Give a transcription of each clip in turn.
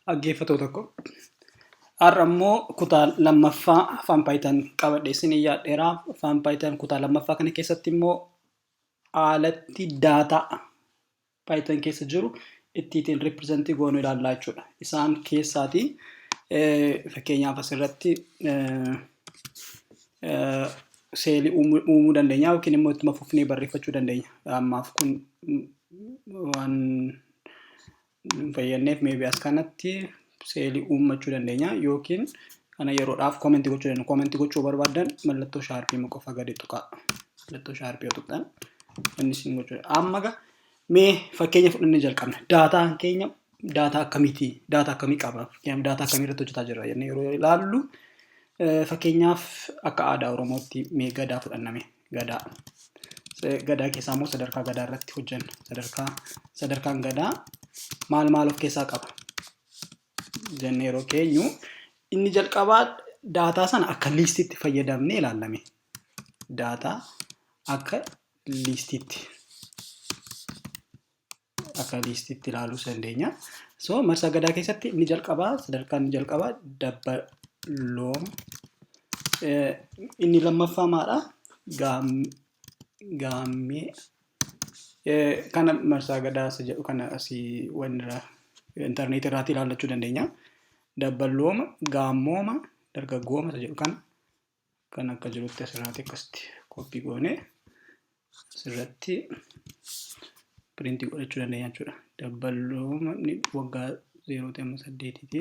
Dhaggeeffatoo tokko. Har'a immoo kutaa lammaffaa afaan paayitan qabadhe isin yaadheera. Afaan paayitan kutaa lammaffaa kana keessatti immoo haalatti daataa paayitan keessa jiru ittiin ripirezentii goonu ilaallaa jechuudha. Isaan keessaati fakkeenyaaf asirratti seelii uumuu dandeenya yookiin immoo ittuma fufnee barreeffachuu dandeenya. Ammaaf kun waan hin fayyadneef maybe as kanatti seelii uummachuu dandeenya yookiin kana yeroodhaaf koomenti gochuu dandeenya. Koomenti gochuu barbaadan mallattoo shaarpii ma qofa gadi tuqaa. Mallattoo shaarpii yoo tuqxan inni isin gochuu danda'a. Amma ga mee fakkeenya fudhannee jalqabna. Daataan keenya daataa akkamiiti? Daataa akkamii qaba? Fakkeenyaaf daataa akkamii irratti hojjetaa jirra jennee yeroo ilaallu fakkeenyaaf akka aadaa Oromootti mee gadaa fudhanname. gadaa. Gadaa keessaa immoo sadarkaa gadaa irratti hojjenna. Sadarkaa sadarkaan gadaa maal maal of keessaa qaba? Jennee yeroo keenyu inni jalqabaa daataa sana akka liistiitti fayyadamnee ilaalame. Daataa akka liistiitti. akka liistitti ilaaluu dandeenya. So marsaa gadaa keessatti inni jalqabaa sadarkaan inni jalqabaa dabbaloom inni lammaffaa maadha gaammee kana marsaa gadaa isa jedhu kana asii wanirraa intarneetii irraatti ilaallachuu dandeenya. Dabbalooma gaammooma dargaggooma isa jedhu kana Kan akka jirutti asirraati akkasitti koppii goone asirratti piriintii godhachuu dandeenya jechuudha. Dabballooma waggaa zeerootii amma saddeetiiti.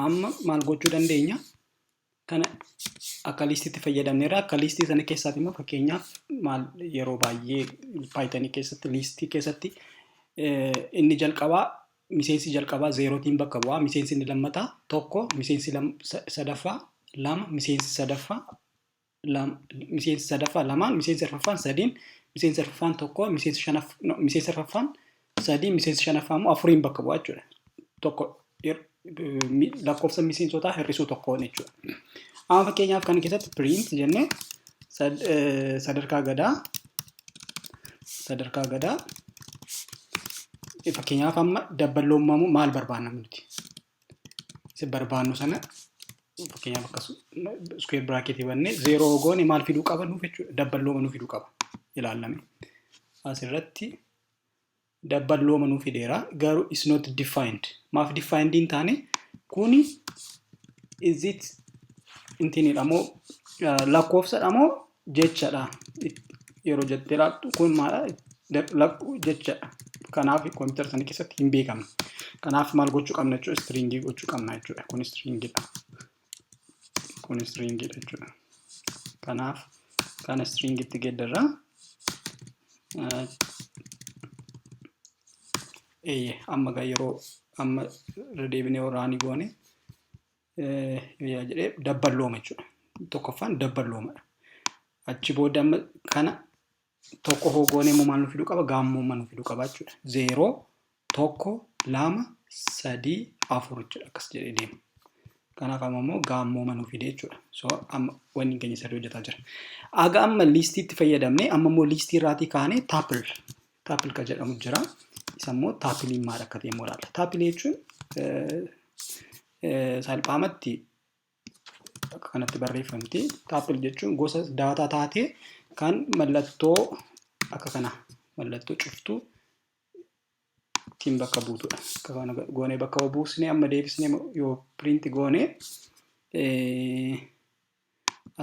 amma maal gochuu dandeenya kana akka liistiitti fayyadamneerra. Akka liistii sana keessaati immoo fakkeenyaaf maal yeroo baay'ee paayitanii keessatti liistii keessatti inni jalqabaa miseensi jalqabaa zeerootiin bakka bu'aa miseensi inni lammataa tokko miseensi sadaffaa lama miseensi sadaffaa miseensi sadaffaa lamaan miseensi arfaffaan sadiin miseensi arfaffaan tokko miseensi shanaf no, miseensi arfaffaan sadii miseensi shanaffaa immoo afuriin bakka bu'a jechuudha. Tokko hir- mi- lakkoofsa miseensotaa hir'isuu tokkoon jechuudha. Amma fakkeenyaaf kana keessatti print jennee sad- eh, sadarkaa gadaa sadarkaa gadaa fakkeenyaaf amma dabballoommamu maal barbaanna nuti? barbaannu sana fakkeenyaaf akka iskuweer biraaketii bannee zeeroo hogoone maal fiduu qaba nuuf jechuudha dabballooma nuuf fiduu qaba ilaallame asirratti dabballooma nuuf fideera garuu is not defined maaf defined hin taane kuni is it intinidha moo lakkoofsadha moo jechadha yeroo jettee ilaaltu kun maadha lakkuu jechadha kanaaf kompiitara sana keessatti hin beekamu kanaaf maal gochuu qabna jechuudha istiriingii gochuu qabna jechuudha kun istiriingiidha kun istiriingiidha jechuudha kanaaf kana istiriingiitti geeddarra eeyye amma gaa yeroo amma irra deebinee waraanii goone Yaa jedhee dabballooma jechuudha. Tokkoffaan dabballoomadha. Achi booda amma kana tokko hoo goonee immoo maal nu fiduu qaba? Gaammooma nu fiduu qaba jechuudha. Zeeroo, tokko, lama, sadii, afur jechuudha. Akkas jedhee deema. Kanaaf amma immoo gaammooma nu fidee jechuudha. So amma wanni keenya sirrii hojjetaa jira. Aga amma liistiitti fayyadamne amma immoo liistii irraatii kaanee taapil Taapil kan jedhamu jira. Isa immoo taapiliin maal akka ta'e immoo ilaalla. Taapilii jechuun salphaamatti akka kanatti barreeffamti. Taapil jechuun gosa daataa taatee kan mallattoo akka kana mallattoo cuftuu ittiin bakka buutudha. Akka kana goonee bakka buusnee amma deebisnee yoo piriinti goonee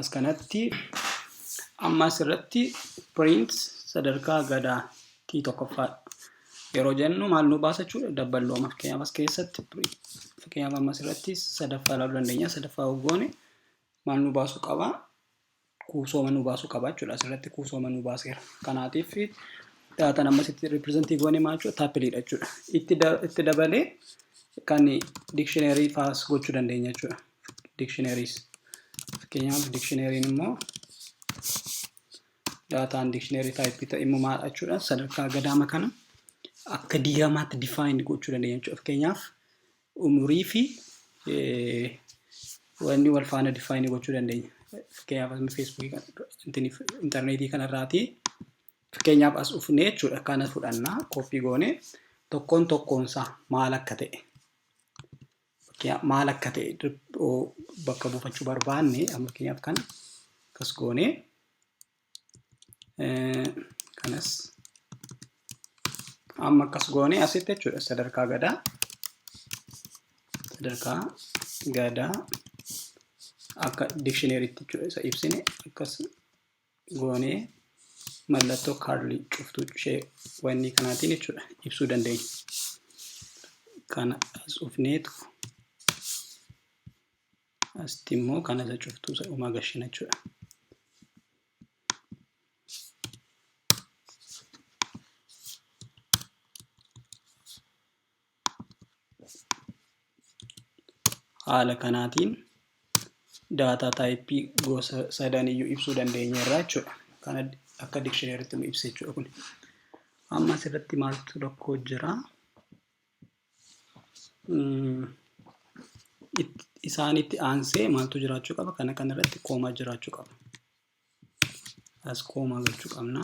As kanatti amma asirratti print sadarkaa gadaa tii tokkoffaa yeroo jennu maal nu baasa jechuudha dabballooma fakkeenyaaf as keessatti fakkeenyaaf amma asirratti sadaffaa ilaaluu dandeenya sadaffaa hoggoone maal nu baasuu qaba kuusooma nu baasuu qaba jechuudha asirratti kuusooma nu baaseera kanaatiif daataan amma asitti ripirezentii goone maal jechuudha taapiliidha jechuudha itti dabalee kan dikshineerii faas gochuu dandeenya jechuudha. dictionaries fakkeenyaaf dictionary'n immoo daataan dictionary type ta'e immoo maal jechuudha sadarkaa gadaama kana akka diiramaatti define gochuu dandeenya jechuudha fakkeenyaaf umurii fi wanni wal faana define gochuu dandeenya fakkeenyaaf asuma feesbuukii intarneetii kanarraati fakkeenyaaf as dhufnee jechuudha kana fudhannaa koppii goone tokkoon tokkoonsaa maal akka ta'e Fakkeenyaaf maal akka ta'e bakka buufachuu barbaanne fakkeenyaaf kana akkas goone kanas amma akkas goone asitti jechuudha sadarkaa gadaa sadarkaa gadaa akka dikshineeritti jechuudha isa ibsine akkas goonee mallattoo kaarlii cuftuu ishee wannii kanaatiin jechuudha ibsuu dandeenya. Kana as ufneetu asitti immoo kana isa cuftuu isa dhumaa gashina jechuudha. haala kanaatiin daataa taayippii gosa sadan iyyuu ibsuu dandeenya irraa jechuudha. Kan akka dikshineeritti nu ibsa jechuudha kun. Amma asirratti maaltu rakkoo jira? Isaanitti aansee maaltu jiraachuu qaba? Kana kanarratti koomaa jiraachuu qaba. as koomaa gochuu qabna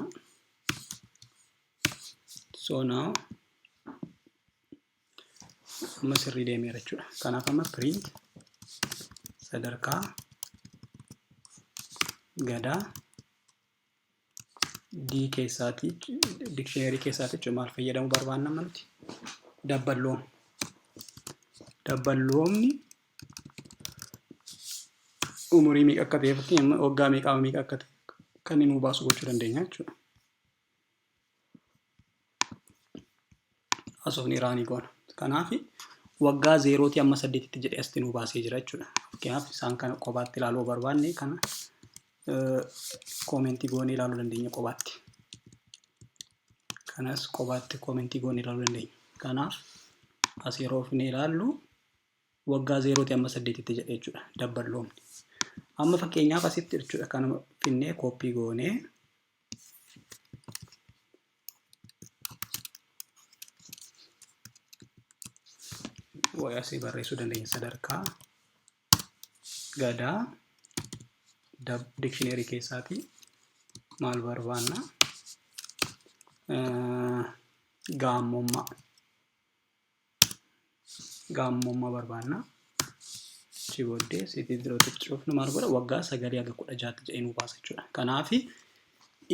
so now amma sirrii deemeera jechuudha kanaaf amma print sadarkaa gadaa D keessaati dictionary keessaati jechuudha maal fayyadamuu barbaanna amma nuti dabballoon dabballoomni umurii meeqa akka ta'ee fi waggaa meeqaa meeqa akka ta'e kan inni nuu baasu gochuu dandeenya jechuudha. Haasofni iraanii goona. Kanaaf waggaa zeerootii amma saddeetitti jedhee asitti nuu baasee jira jechuudha. Fakkeenyaaf isaan kana qobaatti ilaaluu barbaanne kana koomentii goonee ilaaluu dandeenya qobaatti. Kanas qobaatti koomentii goonee ilaaluu dandeenya. Kanaaf as yeroo ofnee ilaallu waggaa zeerootii amma saddeetitti jedhe jechuudha dabballoomni. Amma fakkeenyaaf asitti jechuudha kanuma finnee kooppii goonee way asii barreessuu dandeenya sadarkaa gadaa dab dikshineerii keessaatii maal barbaanna gaammummaa gaammummaa barbaanna. Achi booddee sitii zirootti cufnu maal godha waggaa sagalii haga kudha jaatti jedhee nu baasa jechuudha. Kanaaf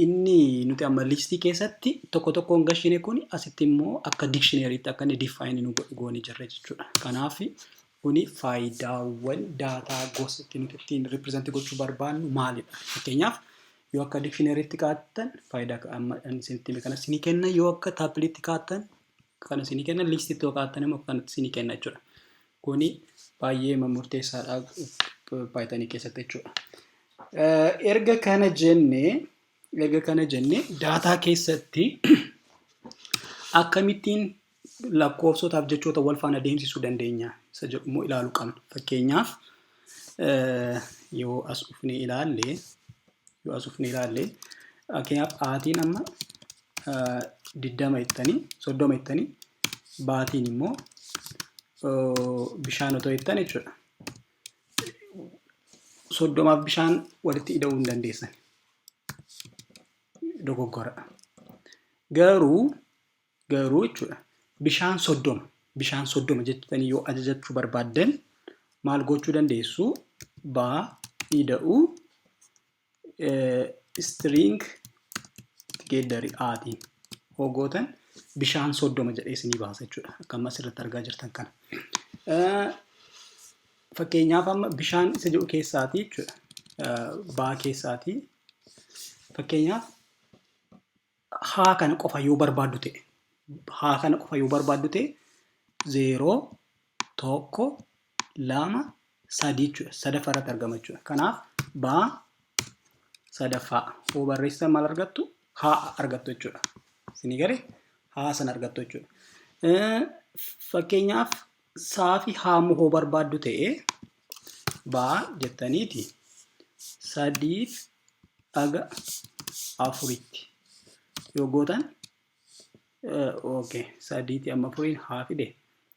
inni nuti amma liistii keessatti tokko tokkoon gashine kun asitti immoo akka dikshineeriitti akka inni difaayinii nu godhu goone jirra jechuudha. Kanaaf kuni faayidaawwan daataa gosa itti nuti ittiin ripireezantii gochuu barbaannu maalidha? Fakkeenyaaf yoo akka dikshineeriitti kaa'attan faayidaa amma isinitti hime kanas ni kenna yoo akka taapiliitti kaa'attan kan isinii kenna liistii itti hokaattan immoo kan isinii kenna jechuudha. Kuni baay'ee murteessaadha paayitanii keessatti jechuudha. Erga kana jenne erga kana jenne daataa keessatti akkamittiin lakkoofsotaaf jechoota wal faana deemsisuu dandeenya isa jedhu immoo ilaaluu qabna. Fakkeenyaaf yoo as dhufnee ilaalle yoo as dhufnee ilaalle fakkeenyaaf aatiin amma diddama jettanii soddoma jettanii baatiin immoo bishaan otoo jettan jechuudha. Soddomaaf bishaan walitti ida'uu hin dandeessan. Dogoggora. Garuu garuu jechuudha bishaan soddoma bishaan soddoma jettanii yoo ajajachuu barbaaddan maal gochuu dandeessu baa ida'uu string itti geeddari aatiin hoogootan bishaan soddoma jedhee isinii baasa jechuudha. Akka ammas irratti argaa jirtan kana. Fakkeenyaaf amma bishaan isa jedhu keessaatii jechuudha. Baa keessaatii fakkeenyaaf haa kana qofa yoo barbaaddu ta'e haa kana qofa yoo barbaaddu ta'e zeeroo tokko lama sadii jechuudha sadaffaa irratti argama jechuudha kanaaf baa sadaffaa hoo barreessitan maal argattu haa argattu jechuudha isinii gale haa san argattu jechuudha fakkeenyaaf saafi haamu hoo barbaaddu ta'e baa jettaniiti sadiif aga afuritti yoo gootan okay sadiiti amma afuriin haa fide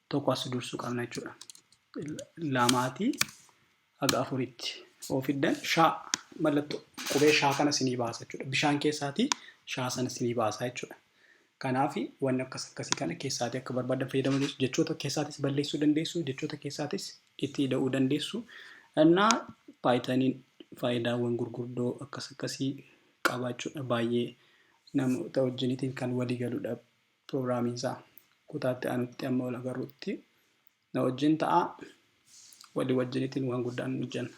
tokko as dursu qabna jechuudha lamaati haga afuritti yoo fiddan shaa mallattoo qubee shaa kana sinii baasa jechuudha. Bishaan keessaatii shaa sana sinii baasa jechuudha. Kanaaf wanni akkas akkasii kana keessaatii akka barbaadan fayyadamuu dandeessu. Jechoota keessaatis balleessuu dandeessu. Jechoota keessaatis itti ida'uu dandeessu. Innaa paayitaniin faayidaawwan gurguddoo akkas akkasii qabaa jechuudha. Baay'ee namoota wajjinitiin kan walii galudha. Prograamiin isaa kutaa itti aanutti amma wal agarrutti na wajjin ta'a. Walii wajjinitiin waan guddaan hojjenna.